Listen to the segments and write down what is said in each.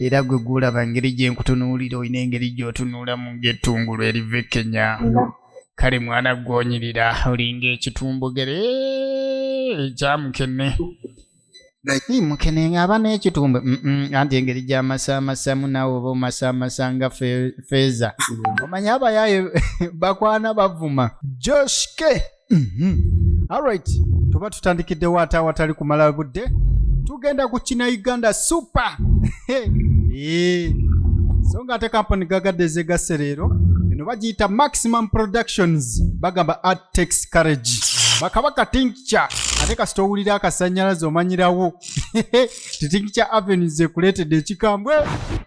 era gwe gwolaba ngeri gye nkutunuulira olina engeri gy'otunuulamu ng'ettungulu eriva ekkenya kale mwana gwonyirira olinga ekitumbugere ekyamukene naye mukene ng'aba n'ekitumbe anti engeri gy'amasaamasamu naawe oba omasaamasa nga feeza mm. omanya abayaaye bakwana bavuma joshke Mhm. alright tuba tutandikiddewo ate awatali kumala budde tugenda ku kina uganda super Eh. so nga ate kampani gagadde ezegasse leero eno bagiyita maximum productions bagamba art takes courage bakabaka tinkca ate kasita owulira akasannyalaze omanyirawo titinkca avenues ekuleetedde ekikambwe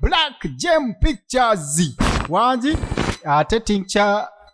black gem pictures wangi ate tinkca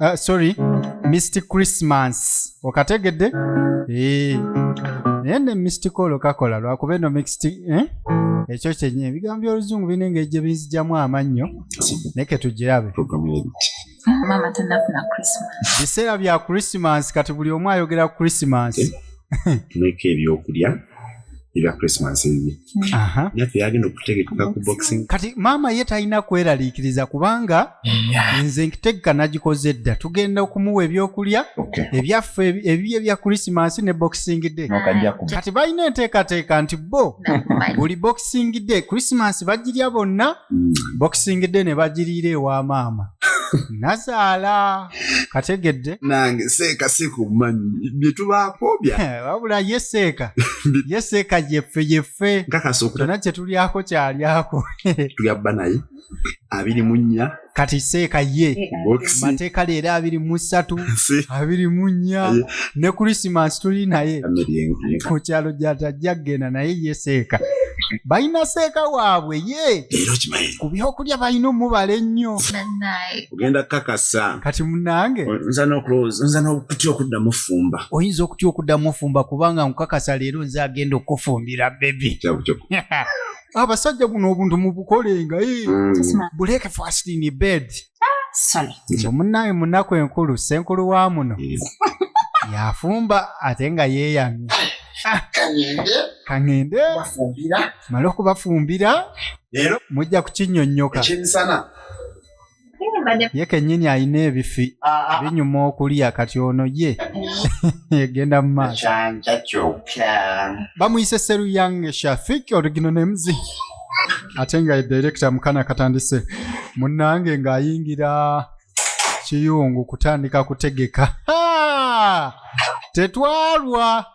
uh, sorry mist christmas okategedde eh. naye ne mistikolo kakola lwakuba eno mixed eh? ekyo kyenye ebigambo by'oluzungu birina engeri gye binzijamu amannyo naye ketugirabe biseera bya christmas kati buli omu ayogera christmas tuleka ebyokulya ebya christmas ebibi yagenda okutegeka ku boxing kati maama ye talina kweraliikiriza kubanga nze nkitegeka nagikoze dda tugenda okumuwa ebyokulya ebyaffe ebibye bya krisimansi ne boxing day kati balina enteekateeka nti bo buli boxing day krisimansi bagirya bonna hmm. boxing day ne bagiriira ewa maama nazaala kategedde nange seeka seeka obumanyi byetubaako bya eh, wabula ye seeka ye seeka yeffe yeffe nkakasa okutana kyetulyako kyalyako tulya bba naye abiri mu nnya kati seeka ye mateeka leero abiri mu ssatu abiri mu nnya ne krisimansi tuli naye ku kyalo gyatajja kugenda naye ye seeka balina seeka waabwe ye ku byokulya balina omubala ennyo ogenda kakasa kati munange nza nokulowooza nza nokutya okuddamu ofumba oyinza okutya okuddamu ofumba kubanga nkukakasa leero nze agenda okukufumbira bebi abasajja guno obuntu mubukolenga eh. mm. buleke fast in bed ah, munaye munaku enkulu senkulu wa muno yafumba ate nga yeyamye kangende kangende male okubafumbira leero mujja kukinyonyoka ekyemisana ye kenyini alina ebifi ah, ah. binyuma okulya kati ono ye egenda mu maaso bamuyise seruyange shafik origino nemuzi ate nga ye direkita mukana katandise munange ng'ayingira kiyungu kutandika kutegeka tetwalwa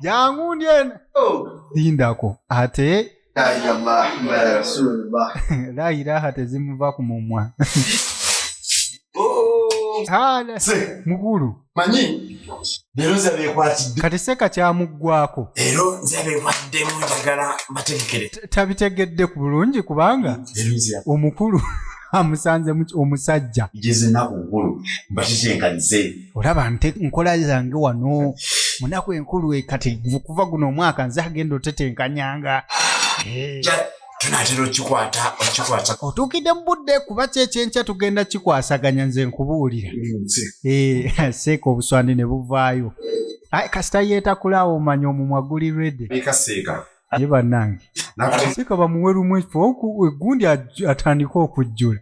jangu ndye lindako ate la ilaha tezimuva ku mumwa Hala, Se. mukulu manyi leero nze beekwatidde kati seka kyamuggwako leero nze beekwaddemu njagala mbategekere T- tabitegedde ku bulungi kubanga leero nze omukulu amusanze omusajja njezenaku nkulu mbakikyenkanize olaba nte nkola zange wano munaku enkulu e kati kuva guno omwaka nze agenda otetenkanyanga tunatera okikwata okikwata otuukidde mu budde kuba kyekyenkya tugenda kikwasaganya nze nkubuulira eh, seeka obuswandi ne buvaayo kasita yeetakulawo omanya omumwa guli redi ye bannange sika bamuwe lumu ekifo egundi atandike okujjula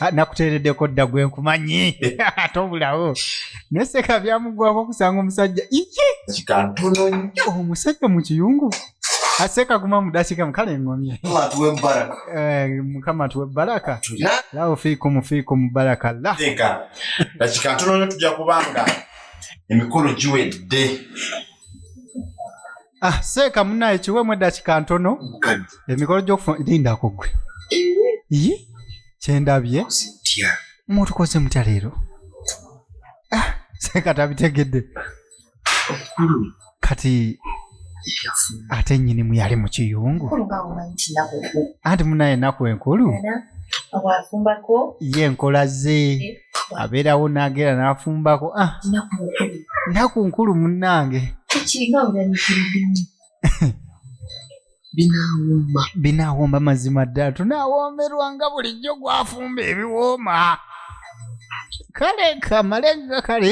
ah, nakuteereddeko dda gwe nkumanyi ate obulawo naye seka byamugwako okusanga omusajja iye omusajja mu kiyungu aseka ah, guma mudakika mukale engomye eh, mukama tuwe baraka lawo fiiku mufiiku mubaraka la dakika ntono nyo tujja kubanga emikolo giwedde ah seeka munaye kiwemu eddakika ntono emikolo gyokufunlindako gwe yi kyendabye mutukoze mutya leero ah, seeka tabitegedde kati ate nyini muyali mu kiyungu anti munaye enaku enkulu ye nkola ze eh. abeerawo nageera n'afumbako ah, nnaku nkulu munnange binawooma binawooma mazima ddala tunawoomerwa nga bulijjo gwafumba ebiwooma kale kamale nga kale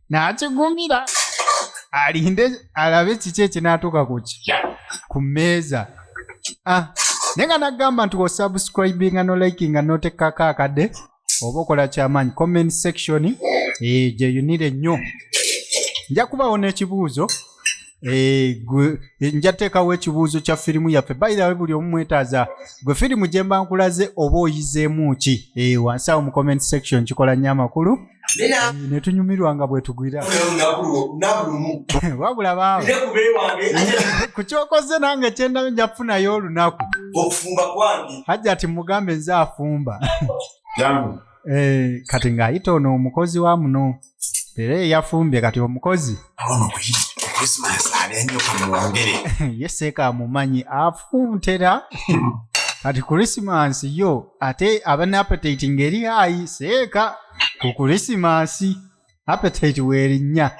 n'akigumira alinde alabe kiki ekinaatuuka ku ki ku mmeeza ah, naye nga nagamba nti osubscribinga nolikinga noteekako akade oba okola kyamaanyi comment section eh, gyeyunire nnyo nja kubawo n'ekibuuzo Eh, gwe- eh, nja teekawo ekibuuzo kya firimu yaffe bayirawe buli omu mwetaaza gwe firimu gye mba nkulaze oba oyizeemu ki Eh, wansi awo mu comment section kikola nnyo amakulu Eh, ne tunyumirwa nga bwetugwira nabulumu wabula baaba ne kubewange ate ku kyokoze nange kyendabye nja kufunayo olunaku okufumba kwange hajja ati mugambe nze afumba jangu Eh, kati ng'ayita ono omukozi wa muno era eyafumbye kati omukozi yeseeka amumanyi afuntera kati kurisimansi yo ate aba ne apetiti ngeri ayi seeka ku kurisimansi apetiti werinnya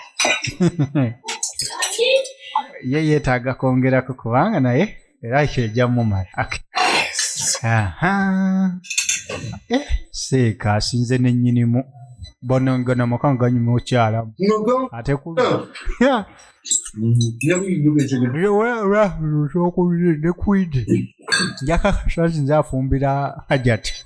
ye yeetaaga kwongerako kubanga naye era ekyo ejja mumala eh, seeka asinze nennyinimu bonongana makanga ganyuma okyalamu ate ku ne kwidi njakakashazi nze afumbira hajati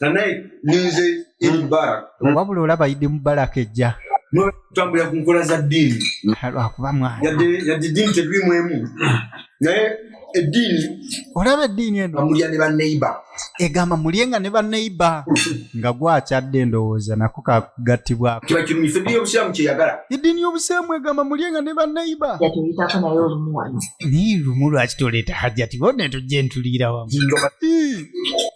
kanaye ninze idi mubarak wabula olaba idi mubarak ejja notambulira ku nkola za ddiini lwakuba mwana yadde yadde ddiini tetulimu emu naye eddiini olaba eddiini eno amulya ne baneiba egamba mulye nga ne baneiba nga gwakyadde endowooza nako kagattibwako kiba kirumisa eddiini y'obusiraamu kyeyagala eddiini y'obusiraamu egamba mulye nga ne baneiba yatuyitako naye olumu wano naye lumu lwaki toleeta hajjati bona tujja entuliira wamu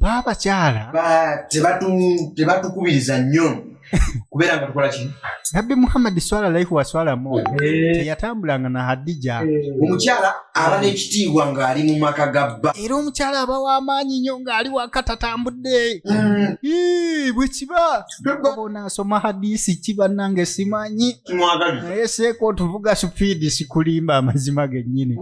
baabakyala tebatukubiriza nnyo kubeera nga tukola ki nabbi muhammadi swala laihi waswalamu eh. teyatambulanga na hadija eh. omukyala aba n'ekitiibwa ng'ali mu maka ga bba era omukyala aba w'amaanyi nnyo ng'ali waka tatambudde mm. bwe kiba onaasoma hadisi ki bannange simanyi naye seeka otuvuga supiidi sikulimba amazima gennyini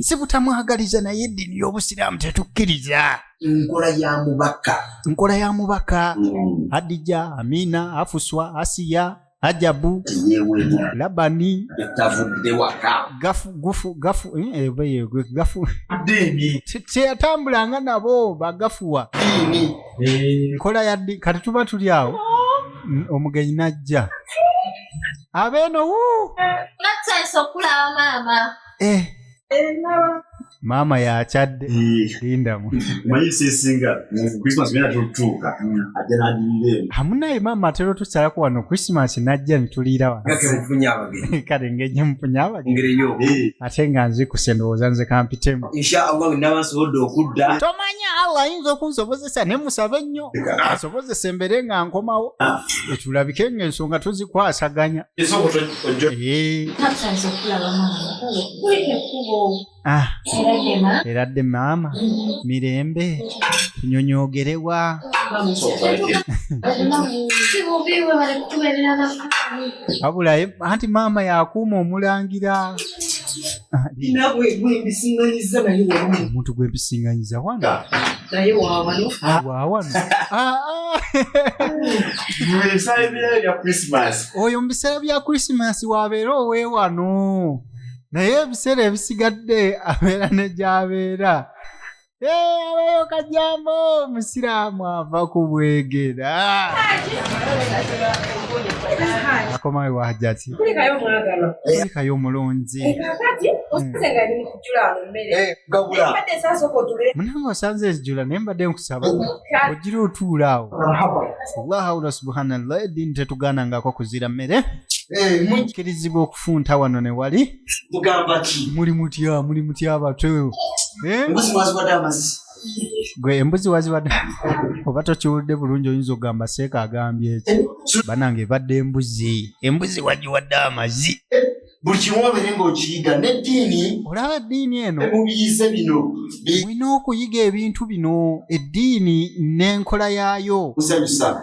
si butamwagaliza naye eddiini y'obusiraamu tetukkiriza nkola ya mubaka nkola ya mubaka mm. adija amina afuswa asiya ajabu labani teyatambulanga eh, eh, nabo bagafuwa eh. nkola ya kati tuba tuli awo omugenyi najja abeeno wu nattayisa okulaba maama eh. maama yakyadde lindamu amunaye maama atera otusalako wano christmas najja nituliira wanokale ngenye mufunya abagee ate nga nzi kusendowooza nze kampitemu tomanya allah ayinza okunsobozesa ne musabe nnyo asobozesa embere nga nkomawo ah. etulabike nga ensonga tuzikwasaganya eradde maama mirembe tunyonyogerewa wabulaye anti maama yakuuma omulangira omuntu gwempisinganyiza wana wawano oyo mu biseera bya krisimasi wabeera owewano naye ebiseera ebisigadde abeera ne gyabeera abayo kajambo omusiraamu ava ku bwegera akomawe wahajati kulikayo omulungi munange osanze ezijula naye mbadde nkusaba ogira otuula awo allahawula subhanallah eddiini tetugaanangako kuzira mmere eh, kirizibwa okufunta wano ne wali mugamba ki muli mutya muli mutya batwe eh? embuzi mwaziwadde amazi gwe embuzi waziwadde oba tokiwulidde bulungi oyinza okugamba seeka agambye eki eh, banange ebadde embuzi embuzi wagiwadde amazi eh, buli kimu obeere ngaokiyiga neddiini olaba eddiini eno mubiyize bino olina okuyiga ebintu bino eddiini n'enkola yaayo musanyusa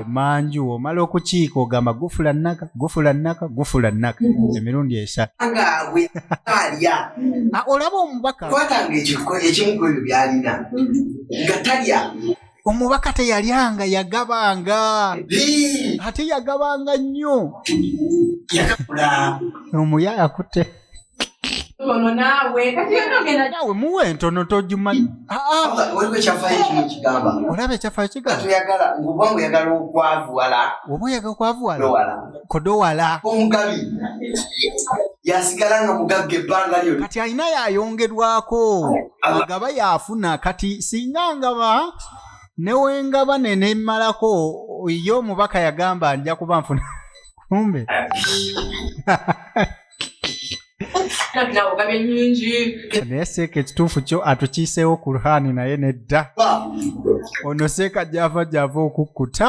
emanju omala okukiika ogamba gufula naka gufula naka gufula naka mm-hmm. emirundi esatu ah, olaba omubaka omubaka teyalyanga yagabanga ate yagabanga nnyo omuyayakutte ono naawe kati yona ogenda naawe muwa entono togimanyi waliwo ekyafaayo kimu kigamba olaba ekyafaayo kigamba toyagala ngoba nga oyagala okwavuwala oba oyagala okwavuwala kodowala omugabi yasigala nga mugagga ebbanga lyona kati alina yayongerwako agaba yafuna kati singa ngaba newengaba nenemalako ye omubaka yagamba nja kuba nfuna kumbe naye seeka ekituufu kyo atukiiseewo ku ruhaani naye nedda ono seeka gyava gyava okukkuta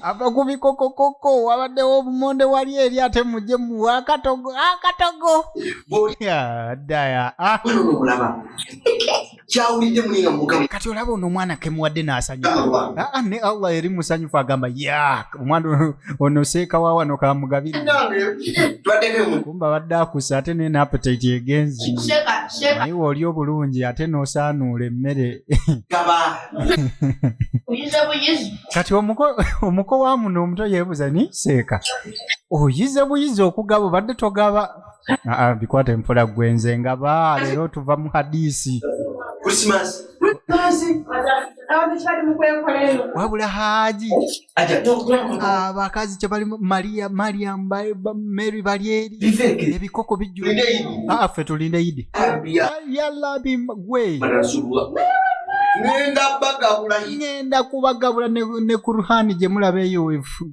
ava ku bikokokoko wabaddewo obumonde wali eri ate mujje muwa akatogo akatogo daya ah. kyawulidde mulinga mugabo kati olaba ono omwana kemuwadde n'asanyuka ah, ah, ne allah eri musanyufu agamba ya omwana ono seeka wa wano kamugabirikumba badde akusa ate naye n'apetite egenzi naye oli obulungi ate n'osaanuula emmere kati omuko wa muno omuto yeebuza ni seeka oyize buyizi okugaba obadde togaba Ah, ah, bikwata empola gwenze nga ba leero tuva mu hadisi wabula haji abakazi ah, kyebali maria mariam mary balyeri ebikoko bijjuffe tulinde idi yalabi gwe ngenda kubagabula ne kuruhani gyemulaba eyo wefu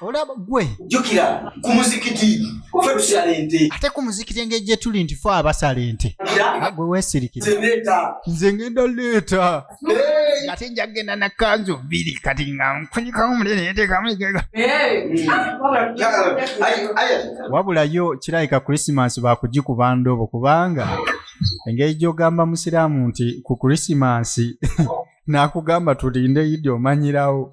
olaba gwe jukira ku muzikiti fe tusala ente ate ku muzikiti engeri gye tuli nti fe abasala ente gwe weesirikira nze ngenda leeta ate nja kugenda na kanzu bbiri kati nga nkunyikamu mulere yeteekamu egega wabula yo kirabika krisimansi baakugikuba ndobo kubanga engeri gy'ogamba musiraamu nti ku krisimansi nakugamba tulinde idi omanyirawo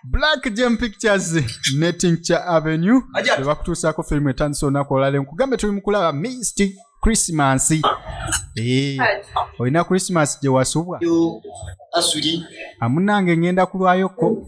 black gem pictures ne tincture avenue Ajat. bebakutuusaako firimu etandisa olunaku olwaleero nkugambe tuli mukulaba misty christmas Eh, olina christmas gye wasubwa Yo, asuli amunange ngenda kulwayokko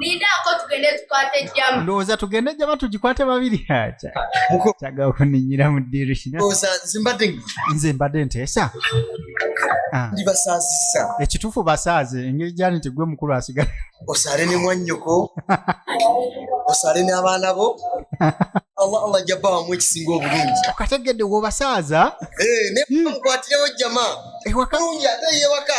Lindako tugende tukwate jjama. Ndowooza tugende jjama tugikwate babiri. Kyaga okunyinyira mu ddirusi. Ndowooza nze mbadde nze mbadde nteesa. Ah. Ndi basaazisa. Ekituufu basaaze engeri gyali nti gwe mukulu asigala. Osaale ne mwannyoko. Osaale n'abaana bo. Allah Allah ajja bawamu ekisinga obulungi. Okategedde w'obasaaza? Ee, eh, ne mukwatirewo jjama. Ewaka. Bulungi ate y'ewaka.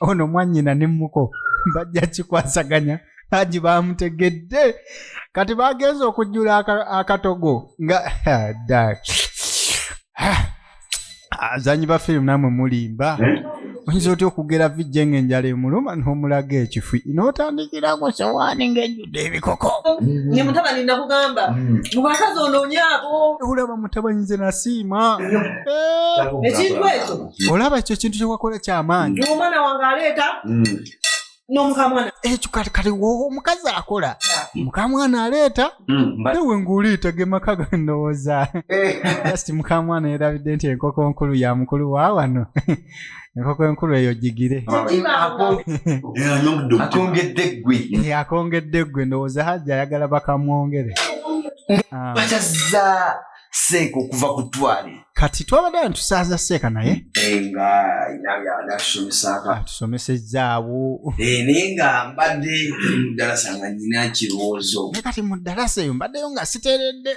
ono mwanyina ne muko bajja kikwasaganya haji bamutegedde kati bagenza okujjula akatogo nga azanyi ba firimu namwe mulimba eh? oyinza otya okugera vijje nga enjala emuluma n'omulaga ekifi n'otandikira ku sowaani ng'ejjudde ebikoko ne mutabani nakugamba mm. mubakazi onoonye abo olaba mutabani nze nasiima ekintu ekyo olaba ekyo ekintu kyewakola kyamaanyi omwana wange aleeta mm. nomukamwana ekyo eh, kati kati omukazi akola mukamwana aleeta hmm, ewe ngaoliita gemaka gandowooza eh. just mukamwana yerabidde nti enkoko nkulu ya mukulu wa wano enkoko enkulu eyo gigire akongedde gwe ndowooza hajja ayagala bakamwongere ah. seeka okuva ku twale kati twabadde abantu tusaaza seeka naye eh, nga natusomesako atusomesezzaawo eh, naye nga mbadde mudalasa nga nyina kirowoozo naye kati mu dalasa eyo mbaddeyo nga siteredde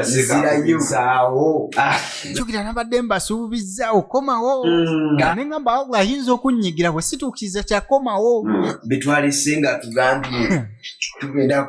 nzirayozaawo ah. njogera nabadde mbasuubizza okomawo mm. nga ne ngamba wabula ayinza okunnyigira bwe situukiriza kyakomawo mm. betwalise nga tugambye tugenda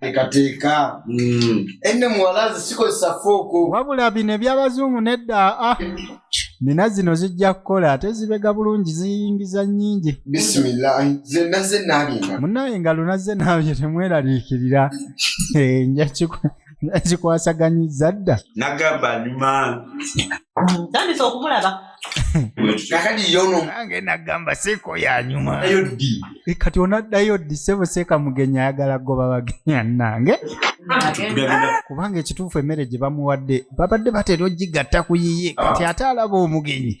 ekateeka mm. enne muwala ze sikozesa fooko wabula bino ebyabazungu nedda ah. nina zino zijja kukola ate zibega bulungi ziyingiza nyingi bisimilahi zena zenaabyenga munaye nga lunaze naabye temweraliikirira eh, njakikwe nakikwasaganyizza dda nagamba nyuma tandise okumulaba nange nagamba seeko yanyuma eh, kati onaddayo ddi sebo seeka mugenyi ayagala goba bagenya nange kubanga ekituufu emmere gye bamuwadde babadde batera ogigatta ku yiye kati ate alaba omugenyi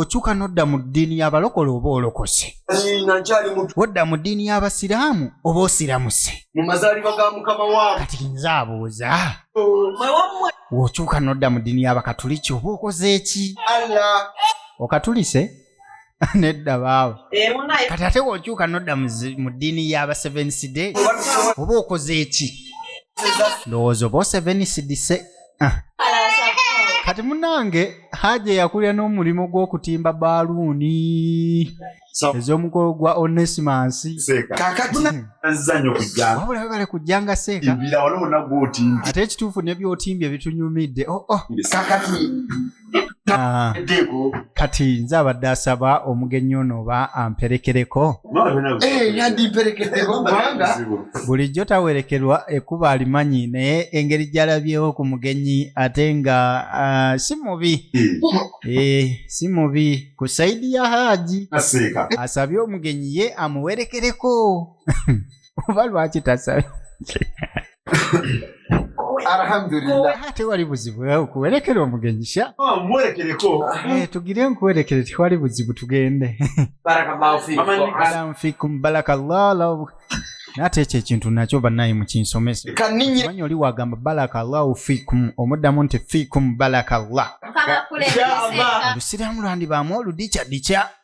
okyuka nodda mu ddiini y'abalokole oba olokose wodda mu ddiini y'abasiraamu oba osiramuse kati nze abuuza wokyuka nodda mu ddiini y'abakatuliki oba okoze eki okatulise nedda baawe kati ate wokyuka nodda mu ddiini y'abasevensi de oba okoze eki ndowooza oba osevenisi dise kati munange haja yakulira n'omulimu gw'okutimba baaluuni ez'omukolo gwa onesimasi wabula webale kujjanga seeka ate ekituufu nebyotimbye bitunyumidde oh, oh. Ah, kati nze abadde asaba omugenyi ono oba amperekereko bulijjo tawerekerwa ekuba alimanyi naye engeri gyalabyewo ku mugenyi ate nga ah, si mubi eh, si mubi ku saidi ya haaji asabye omugenyi ye amuwerekereko oba lwaki tasabye alhamdulillah tewali buzibu eh, okuwerekera omugenyi sha ah, muwerekereko eh, tugire nkuwerekere tewali buzibu tugende barakallahu fikum barakallahu nate ekyo ekintu nakyo banaye mukinsomese manyi oli wagamba barakallahu fikum omuddamu nti fikum barakallah olusiraamu lwandibaamu oludikya dikya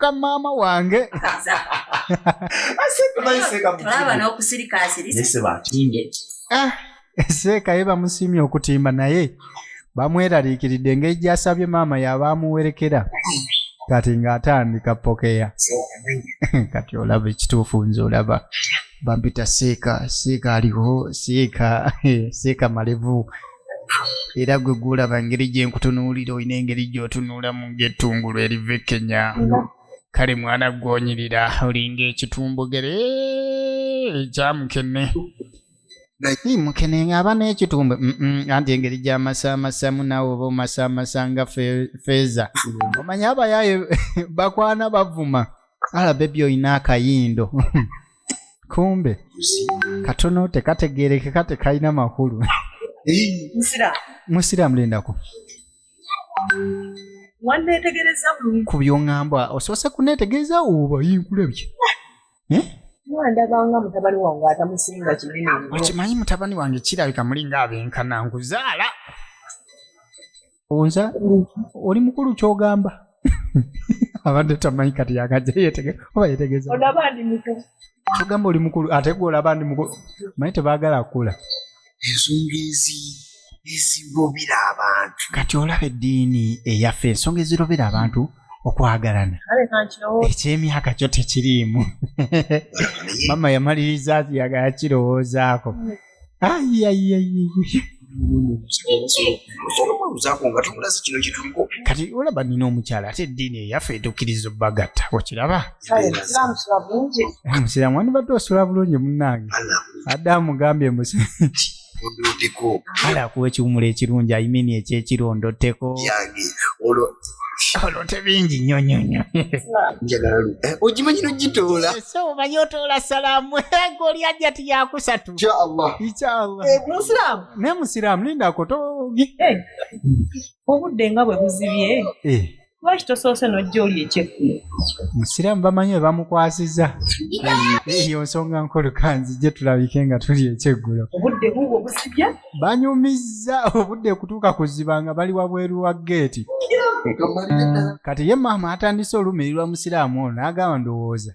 ka maama wange seeka ye bamusiimye okutimba naye bamweraliikiridde engeri gyasabye maama yaba amuwerekera kati ng'atandika pokeya kati olaba ekituufu nze olaba bampita seeka seeka aliho seeka seeka malevu era gwe gwolaba ngeri gye nkutunuulira olina engeri gy'otunuulamu ng'ettungulu eriva ekkenya kale mwana gwonyirira olinga ekitumbugere ekya mukene naye mukene ng'aba n'ekitumbe anti engeri gy'amasaamasamu naawe oba omasaamasa nga feeza omanya abayaaye bakwana bavuma alabebi olina akayindo kumbe katono tekategerekeka tekalina makulu nsira musiraamu lindako wanneetegereza bulungi ku byoŋŋamba osoose kuneetegereza oba yinkulabye Eh? nga ndabanga mutabani wange atamusinga kinene nnyo okimanyi mutabani wange kirabika mulinga abenkana nkuzaala onza oli mukulu kyogamba abadde tamanyi kati yagaja oba yetegeza kyogamba oli mukulu ate gwe olaba ndi mukulu manyi tebagala kukula ensonga ezi ezirobera abantu kati olaba eddiini eyaffe ensonga ezirobera abantu okwagalana ekyemyaka kyo tekiriimu mama yamaliriza yakirowoozaako kati olaba nina omukyala ate eddiini eyaffe etukiriza obagatta okiraba musiramu wandibadde osula bulungi munange adde amugambye musi ala kuwa ekiwumulo ekirungi ayimini ekyekirondo teko olote bingi nnyo nnyo nnyo njagala lu eh, ogimanyi nogitoola ese omanyi otoola salaamu ego oli ajja ti yakusatu inshallah inshallah eh, musiraamu naye musiraamu lindako togi eh, obudde nga bwe buzibye lwaki tosoose nojja oli ekyekkulo musiraamu bamanyi webamukwasiza eyo nsonga nkolukanzi gye tulabike nga tuli ekyeggulo obudde bubwo busibya banyumizza obudde kutuuka kuziba nga bali wabweru wa geeti kati ye maama atandise olumirirwa musiraamu ono n'agamba ndowooza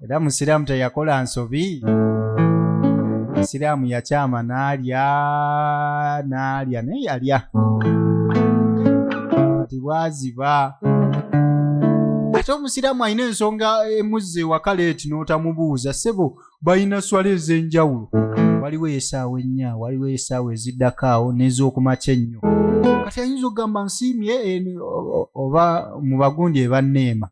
era musiraamu teyakola nsobi musiraamu yakyama n'alya n'alya naye yalya kati bwaziba ate omusiraamu alina ensonga emuzza ewaka leeti n'otamubuuza ssebo balina swala ez'enjawulo waliwo esaawa ennya waliwo esaawa eziddako awo n'ez'okumakya ennyo kati ayinza okugamba nsiimye oba mu bagundi ebanneema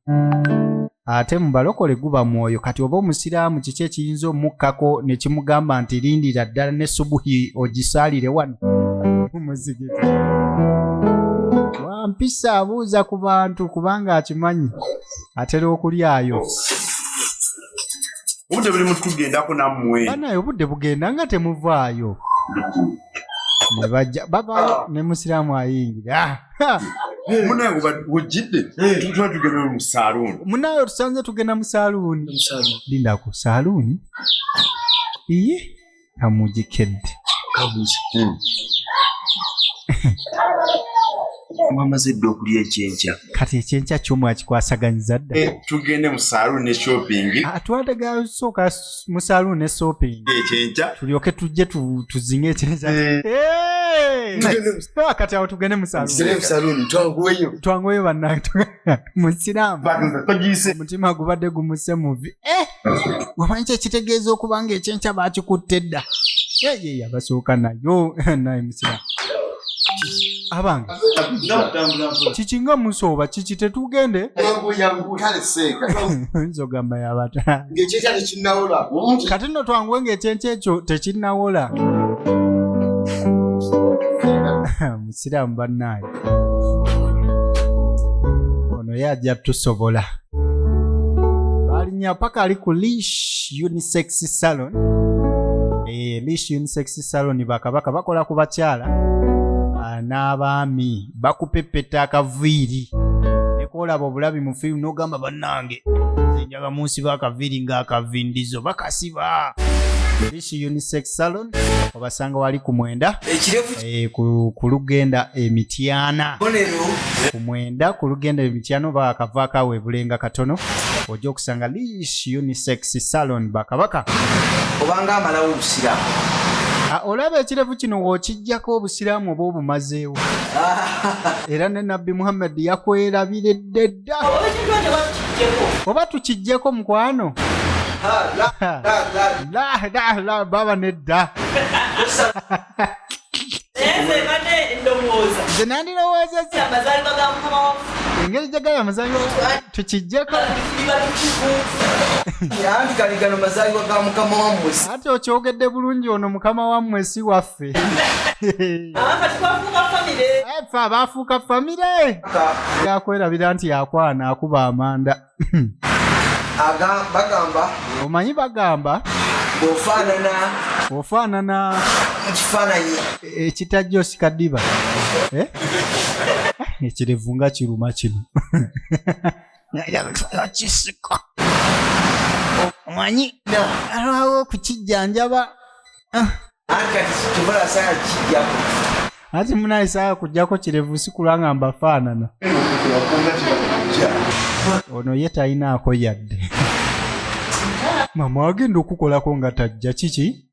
ate mu balokole guba mwoyo kati oba omusiraamu kiki ekiyinza omukkako ne kimugamba nti lindira ddala ne subuhi ogisaalire wano mumuzigiti wampisa abuuza ku bantu kubanga akimanyi atera okulyayo obudde buli mutugendako nammwe banaye obudde bugenda nga temuvaayo nebajja bavaayo ah. ne musiraamu ayingira ah, munaye wejjidde tuba tugenda mu saluuni munaye otusanze tugenda mu saluuni lindaku saluuni iye kamuji kid kamuji hmm. mwamaze dda okulya ekyenkya kati ekyenkya kyo mwakikwasaganyiza dda eh, tugende mu saluun ne shopping ah, twadaga sooka mu saluun ne shopping ekyenkya tulyoke tujje tuzinge ekyenkya eh. Eh! kati awo tugende mu saluun twanguweyo bannange musiraamu omutima gubadde gumuse muvi eh! wamanyi kyekitegeeza okuba nga ekyenkya bakikutte dda yeye yabasooka nayo naye musiraamu abange kiki nga musooba kiki tetugende nzogamba yabata kati no twanguwe ngaekyenkya ekyo tekinawola siraamu bannaye ono ye ajja tusobola balinya paka ali ku lish unisex salon e, lish unisex salon bakabaka bakola ku bakyala ah, n'abaami bakupepeta akaviiri nekoolaba obulabi mu firimu n'ogamba bannange zenjaga munsi bakaviiri ng'akavindizo bakasiba Fresh Unisex Salon obasanga wali ku mwenda eh, ku lugenda emityana ku mwenda ku lugenda emityana oba akava akawe bulenga katono ojja okusanga Lish Unisex Salon bakabaka obanga amalawo obusiramu ah, olaba ekirevu kino wokijjako obusiraamu oba obumazeewo era ne nabbi muhammadi yakwerabiredde oba tukijjeko mukwano baba nedda nze nandirowoozeza engeri gyagala amazalibwa tukijjeko ati okyogedde bulungi ono mukama wammwe si waffe ffe ffe abaafuuka famire yakwerabira nti yakwana akuba amanda bagamba omanyi bagamba ofaanana ofaanana ekifaananyi ekitajja osika ddiba eh? ekirevu nga kiruma kino kisiko omanyi alwawo okukijjanjaba ah. ati munaye saa kujjako kirevu sikula nga mbafaanana ono ye talinaako yadde mama wagenda okukolako nga tajja kiki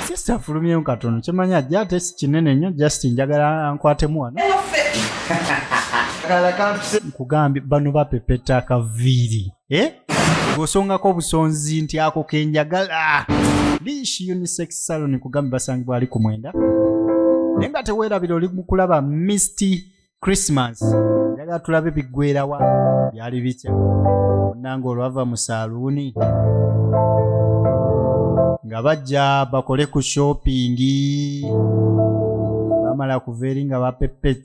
sisita afulumyemu katono kimanyi ajja ate si kinene nnyo just njagala ankwatemu wano nkugambye bano bapepeta akaviiri eh? ng'osongako obusonzi nti ako kenjagala lish unisex salon kugambe basangibwa ali ku mwenda naye nga teweerabira oli mukulaba misty christmas yagala tulabe biggwerawa byali bitya onnanga olwava mu saaluuni nga bajja bakole ku shoppingi bamala kuva eri nga bapepet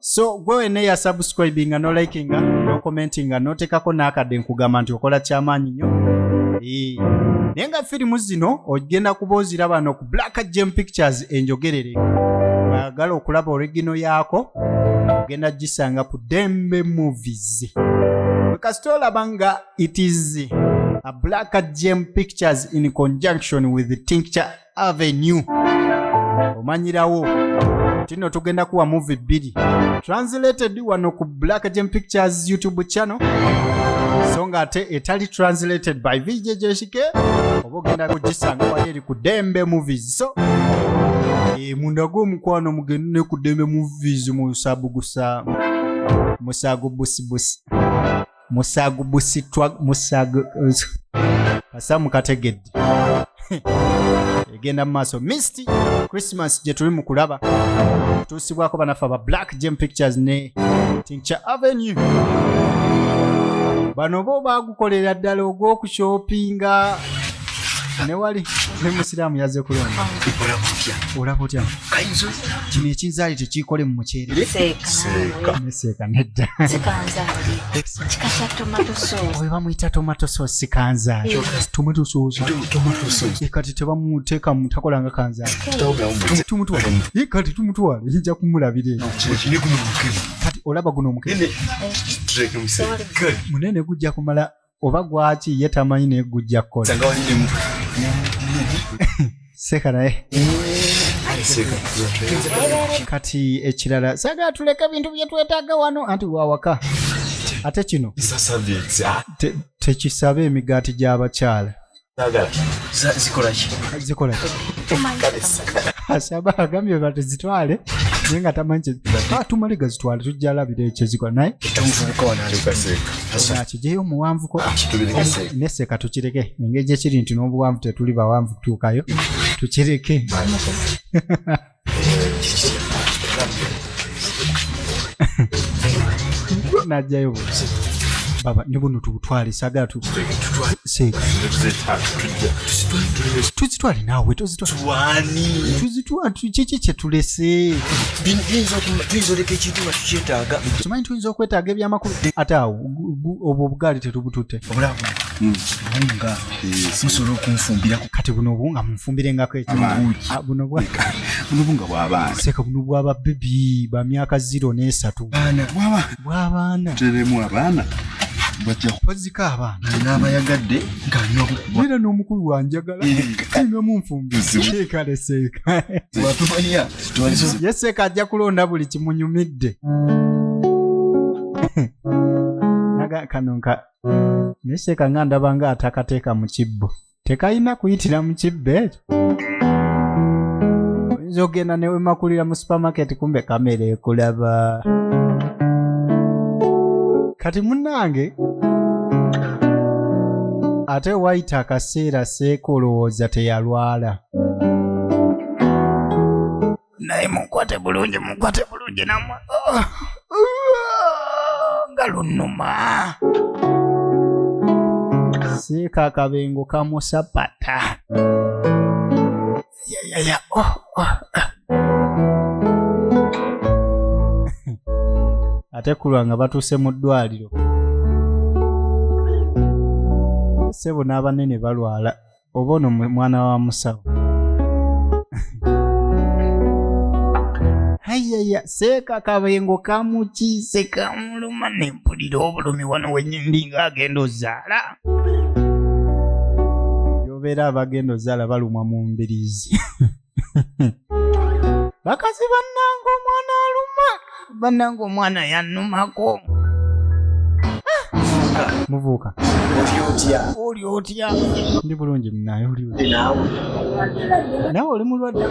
so gwe wena eya subscribinga no likinga no commentinga notekako nakadde nkugamba nti okola kyamaanyi nyo naye nga firimu zino ogenda kuba oziraba no ku black gem pictures enjogerere ayagala okulaba oregino yaako ogenda gisanga ku dembe movies kasita olaba nga it is a black gem pictures in conjunction with tincture avenue omanyirawo tino tugenda kuwa muvi bbiri translated wano ku black gem pictures youtube channel so nga ate etali translated by vjjshike oba ogenda kugisanga wali eri ku dembe movies so e, munda gwomukwano mugende ne ku dembe movies musabugusa musago busibusi musagu busitwa musagu kasa mukategedde egenda mu maaso misty christmas gye tuli mu kulaba tuusibwako banaffe aba black gem pictures ne tincture avenue bano bo bagukolera ddala ogw'okushopinga newali ne musiraamu yaze kulonda olaba otya kino ekinzaali tekiikole mu muceereseeka nedda oyo bamuyita tomato sauce sikanzaali tomato sauce eh, kati tebamuteekamu takolanga kanzaali tumutwale eh, kati tumutwale ija kumulabira eyo kati olaba guno omukebe munene gujja kumala oba gwaki ye tamanyi naye gujja kukola seka naye kati ekirala sagala tuleke bintu byetwetaaga wano anti wawaka ate kino tekisaba emigaati gy'abakyala asaba agambye batezitwale naye nga tamanyi ah, tumale gazitwale tujja alabira ekyo ezikola naye akijeyo omuwanvuko ah, neseka tukireke engeri gyekiri nti n'obuwanvu tetuli bawanvu tutuukayo tukireke najjayo baba ne buno tubutwale sagala tuzitwale naawe kiki kyetulese kimanyi tuyinza okwetaaga ebyamakulu ate awo obwo obugaali tetubututte hmm. musobola okunfumbira kati buno obunga munfumbirengako ekyobunobuno ah, bwabaana seeka buno bwaba bebi ba myaka ziro n'esatu bwabaana teremu abaana bazika abaana naabayagadde ngaera n'omukulu wanjagala nomunfumbirseekaeseekayeseeka ajja kulonda buli kimunyumidde kano naye seeka nga ndaba nga atakateeka mu kibbo tekalina kuyitira mu kibbo ekyo oyinza okugenda newemakulira mu supermarket kumbe kamera ekulaba kati munange ate wayita akaseera seeka olowooza teyalwala naye mukwate bulungi mukwate bulungi namwe oh, nga lunuma siika akabengo kamusapata yayaya oh, oh, ah. ate kulwa nga batuuse mu ddwaliro sebo n'abanene balwala oba ono mwana wa musawo ayaya seeka kabengo kamukiise kamuluma nempulira obulumi wano wenyindi nga agenda ozaala yobeera abagenda ozaala balumwa mu mbiriizi bakazi bannanga omwana aluma bannanga omwana yannumako muvuuka oli otya ndi bulungi munaye oli nawe oli mulwadde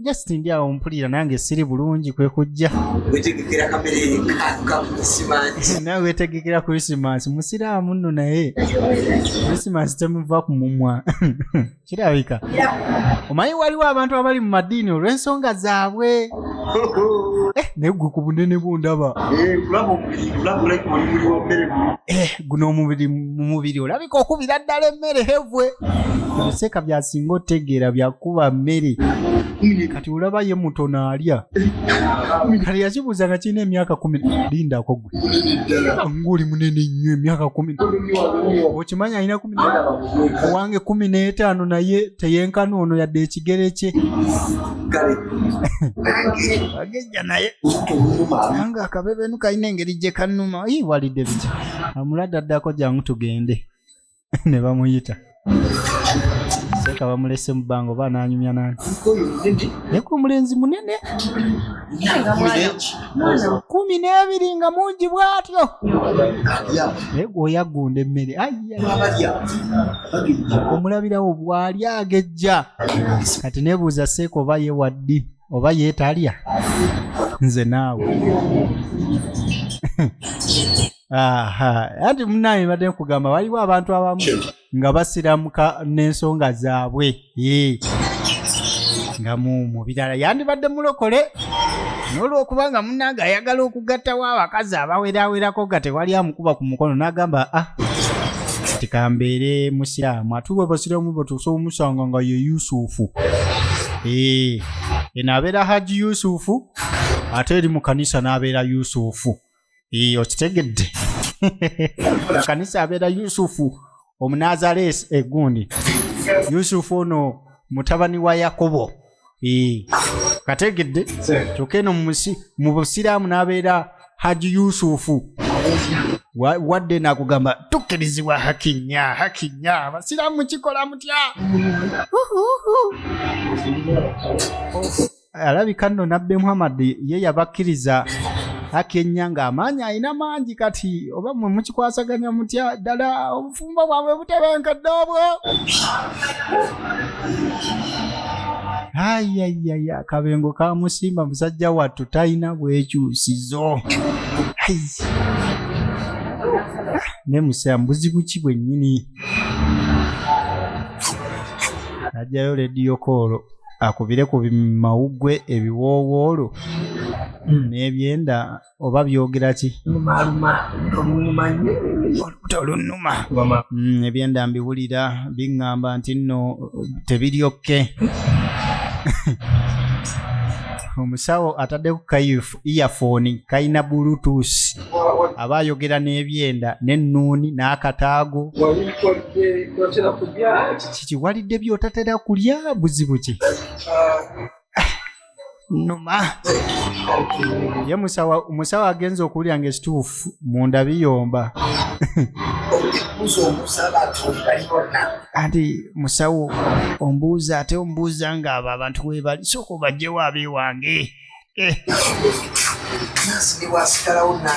just ndi awo mpulira nange siri bulungi kwe kujja nawe wetegekera krisimansi musiraamu nno naye krisimansi temuva ku mumwa kirabika omanyi waliwo abantu abali mu madiini olw'ensonga zaabwe eh, naye gwe ku bunene bwo ndaba eh, eh, guno omubiri mu mubiri olabika okubira ddala emmere hevwe ebiseeka byasinga otegeera byakuba mmere kati olaba ye mutono alya kati yakibuuza nga kirina emyaka kumi lindako gwe ng'oli munene nnyo emyaka kumi okimanya alina owange kumi n'etaano naye teyenkana ono yadde ekigere kye agejja naye anga akabebenu kalina engeri gye kanuma i walidde bitya amulade addako jangu tugende ne bamuyita seeka bamulese mu bbanga oba ananyumya nani naye ku omulenzi munene kumi n'ebiri nga mungi bw'atyo naye gweoyaggunda emmere omulabirawo bw'ali agejja kati nebuuza seeka oba ye waddi oba yeetalya nze naawe anti munaye mbadde nkugamba waliwo abantu abamu nga basiramuka n'ensonga zaabwe nga mu mu birala yandibadde mulokole n'olwokuba nga munnange ayagala okugattawo abakazi abawerawerako nga tewali amukuba ku mukono n'agamba a ah, kati kambeere musiramu ate bwe basiramu batuusa omusanga nga ye yusufu ee eno abeera haji yusufu ate eri mu kanisa n'abeera yusufu Iyo okitegedde kanisa abeera yusufu omunazareesi egundi yusufu ono mutabani wa yakobo kategedde kyokka eno mu busiraamu n'abeera haji yusufu wadde nakugamba tukkirizibwa hakinya hakinya abasiraamu kikola mutya alabika nno nabbe muhammad ye yabakkiriza akenya ng'amaanyi alina mangi kati oba mwe mukikwasaganya mutya ddala obufumbo bwabwe butebenkedde obwo ayayaya akabengo kamusimba musajja wattu talina bwekyusizo ne musea mbuzibu ki bwennyini ajjayo lediyo koolo akubire ku mawuggwe ebiwoowoolo hmm. n'ebyenda oba byogera ki olunuma hmm, ebyenda mbiwulira biŋŋamba nti nno tebiryokke omusawo atadde ku kayufu iyafoni kalina bulutusi aba ayogera n'ebyenda n'ennuuni n'akataago kikiwalidde by'otatera kulya buzibu ki numa ye musawo agenza okuwulira nga ekituufu munda biyomba anti musawo ombuuza ate ombuuza ng'abo abantu webali sooka obajjewo abeewange Eh.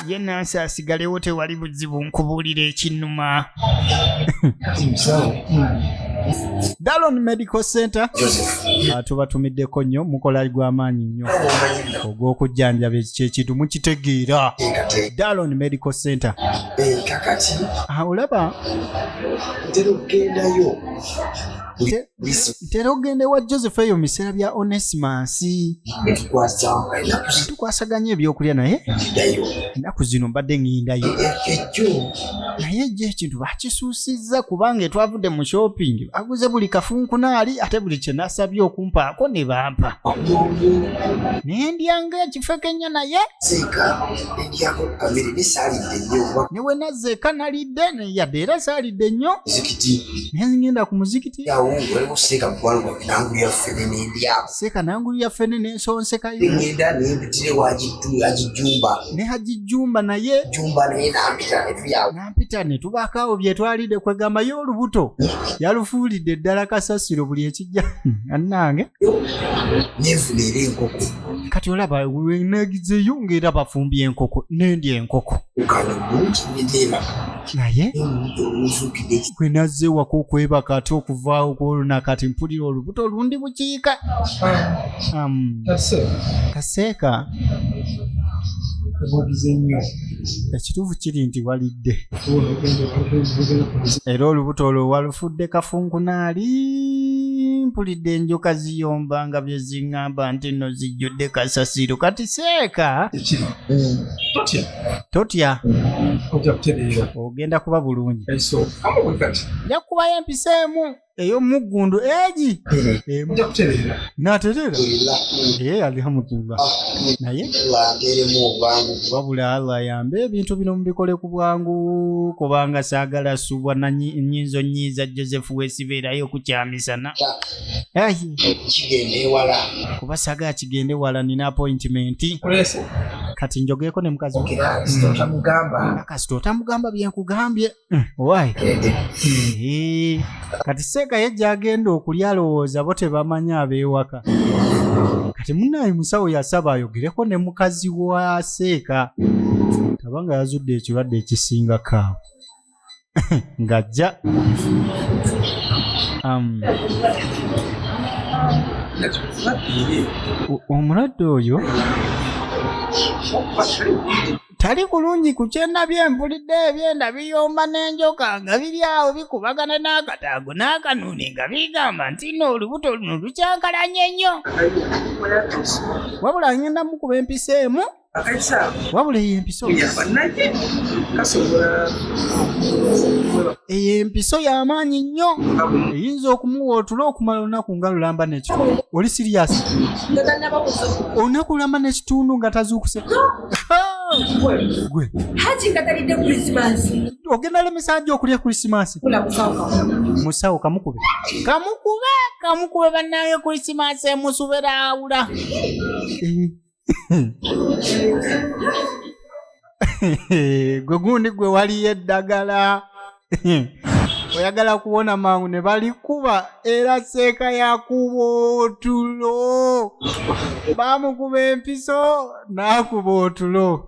ye nansi asigalewo tewali buzibu nkubuulira ekinuma dalon medical center ah, tubatumiddeko nnyo mukola gw'amaanyi nnyo ogw'okujjanjaba ekyekintu mukitegeera dalon medical center ah, olaba tera okugenda ewa joseph eyo mu biseera bya onesimus tukwasaganya ebyokulya naye ennaku zino mbadde ŋindayo naye ejo ekintu bakisuusizza kubanga etwavudde mu shopping aguze buli kafunkunaali ate buli kyenasabye okumpaako ne bampa naye ndyanga ekifeke ennyo naye ne wenazza eka nalidde yadde era zaalidde nnyo naye ngenda ku muzikiti seeka nangulu yaffe ne nensonsekayo ne haji jumba naye nampita ne tubaako awo bye twalidde kwegamba ye olubuto yalufuulidde ddala kasasiro buli ekijja annange kati olaba wenegizeyo ngaera bafumbi enkoko nendi enkoko naye wenazeewako okwebaka ate okuvaawo kwoluna kati mpulira olubuto olundi bukiika kaseeka ekituufu kiri nti walidde era olubuto olwo walufudde kafunkunaali mpulidde enjoka ziyomba nga bye ziŋŋamba nti nno zijjudde kasasiro kati seeka ekiri Mm. totya totya ojja kutereera ogenda kuba bulungi enso kamu bwe kati nja kubayo empisa emu ey'omuggundu egi emu ojja kutereera naterera ye alihamudullah naye wangeremu obwangu wabula allah ayambe ebintu bino mubikole ku bwangu kubanga saagala subwa na nyi- nyinzo nyiiza joseph wesibeerayo kukyamisana kuba saga kigende wala nina appointment kati njogeeko ne mukazi kasita otamugamba byenkugambye mm, wai eh, kati seeka ye gyagenda okulya alowooza bo tebamanyi abeewaka kati munaye musawo yasaba ayogereko ne mukazi wa seeka aba nga yazudde ekirwadde ekisinga kaawo ng'ajja um, o- omulwadde oyo tali bulungi ku kyenda bye mpulidde ebyenda biyomba n'enjoka nga biri awo bikubagana n'akataago n'akanuuni nga bigamba nti no olubuto luno lukyankalanye nnyo wabula ngenda mukuba empisa emu wabula eyo empiso eyo empiso y'amaanyi nnyo eyinza okumuwa otula okumala olunaku nga lulamba nekyo oli siriyasi olunaku lulamba n'ekitundu nga tazuukuse gwe haji nga talidde krisimansi ogenda lemesa nja okulya krisimansi musawo kamukube kamukube kamukube bannange krisimansi emusubera awula eh. gwe gundi gwe waliyo eddagala oyagala kuwona mangu ne balikuba era seeka yakuba otulo bamukuba empiso n'akuba otulo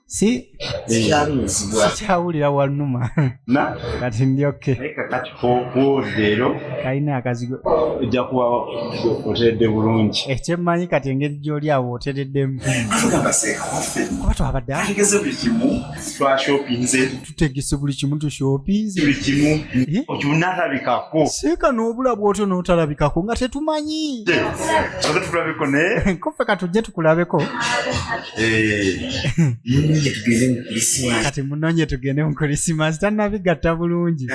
si sikyawulira wanuma kati ndi oke kalina akazigo ojja kuba oteredde bulungi ekyemmanyi kati engeri gyoli awo otereddemu kuba twabadde tutegese buli kimu tushopinzekimuokyunatabikako eh? seeka n'obula bwotyo n'otalabikako nga tetumanyi tulabeko naye kofe katujje tukulabeko eh. kati munonye tugende mu krisimasi tanabigatta bulungi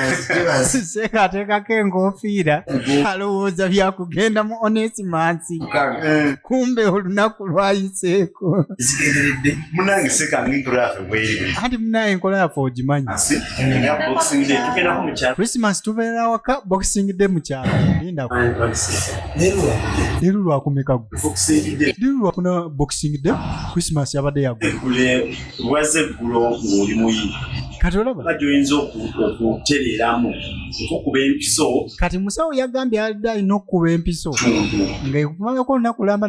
seeka ateekako enkofiira alowooza byakugenda mu onesimansi eh. kumbe olunaku lwayiseeko munange seeka nginturaafe anti munaye enkola yaffe ogimanyi christmas tubeera awaka boxing day mukyalo lindaliru lwakumeka liru lwakuna boxing day christmas yabadde yagwaeggulongolimuyi kati olaba gyoyinza okutereeramu okukuba empiso kati musawo yagambye alidde alina okukuba empiso ngaekumanyako olunaku lamba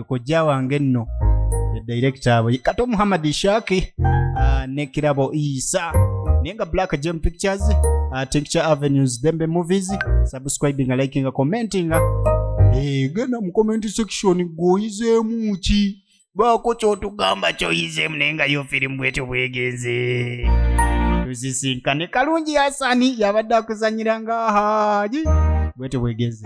kojja wange nno edirekita abo kato muhammad ishaki ah, ne kirabo isa naye nga black gem pictures ah, tincture avenues dembe movies subscribinga likinga commentinga eh, genda mu comment section gwoyizeemu ki baako kyotugamba kyoyizeemu naye nga yo firimu bwetyo bwegenze tuzisinkane kalungi yasani yabadde akuzanyira nga haji bwetyo bwegenze